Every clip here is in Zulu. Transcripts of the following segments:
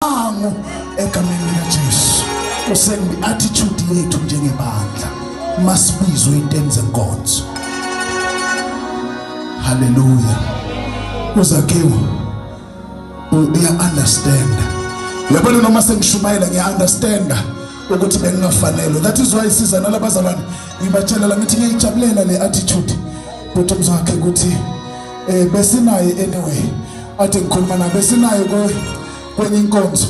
Amu egameni likaJesu. Kusembi attitude yethu njengebandla. Masibizwe inteni zenkonzo. Hallelujah. Uzakiwe uya understand. Yabona noma sengishumayela ngiya understand ukuthi bengingafanelwe. That is why siza nalabazalwane ngibatshela la ngithi ngiyayijabulela le attitude. Bhuti mzakhe ukuthi eh besinaye anyway athi ngikhuluma naye besinaye kwenye inkonzo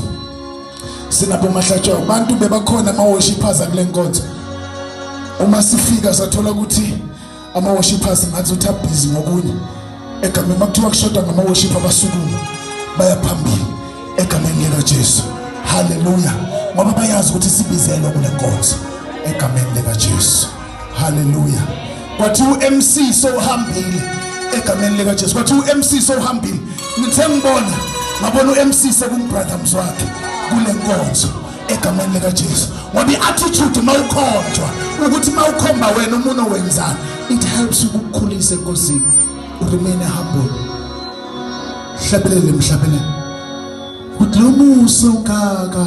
sinabo mahlatshwa abantu bebakhona ama worshippers akule nkonzo uma sifika sathola ukuthi ama worshippers ngathi utha busy ngokunye egameni makuthiwa kushoda ngama worship abasukuma bayaphambili egameni lika Jesu haleluya ngoba bayazi ukuthi sibizelwe kule nkonzo egameni lika Jesu haleluya kwathi uMC sowuhambile egameni lika Jesu kwathi uMC sowuhambile ngithe ngibona ngabona uMC sekumbrother mzwakhe kule nkonzo egameni lika Jesu ngoba iattitude mawukhonjwa ukuthi mawukhomba wena umuntu owenzana it helps ukukhulisa enkosini remain humble hlabelele mhlabelele uthi lo musa ukaka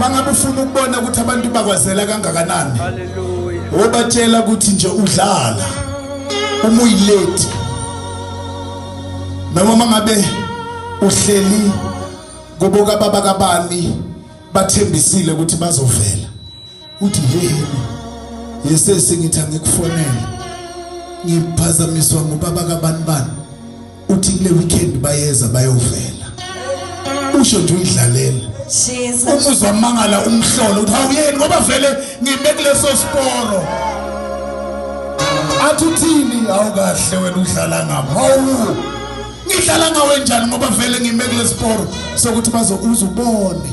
mangabe ufuna ukubona ukuthi abantu bakwazela kangakanani wobatshela ukuthi nje udlala uma uyilate noma mangabe uhleli kuboka baba kabani bathembisile ukuthi bazovela uthi yini yesesi ngithi angikufonele ngiphazamiswa ngubaba kabani bani uthi kule weekend bayeza bayovela usho nje uyidlalela umuzi wamangala umhlolo uthi awuyeni ngoba vele ngime kuleso siporo athi uthini awukahle wena udlala ngami hawu ngidlala ngawe njani ngoba vele ngime kulesiporo sokuthi bazokuza ubone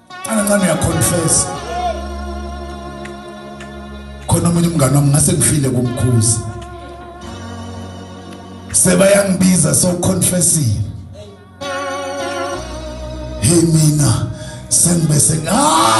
Angancane ya confess. Khona umunye umngane wami ngase ngifile kumkhuzi. Sebayangibiza so confessing. Hey mina sengibe seng ah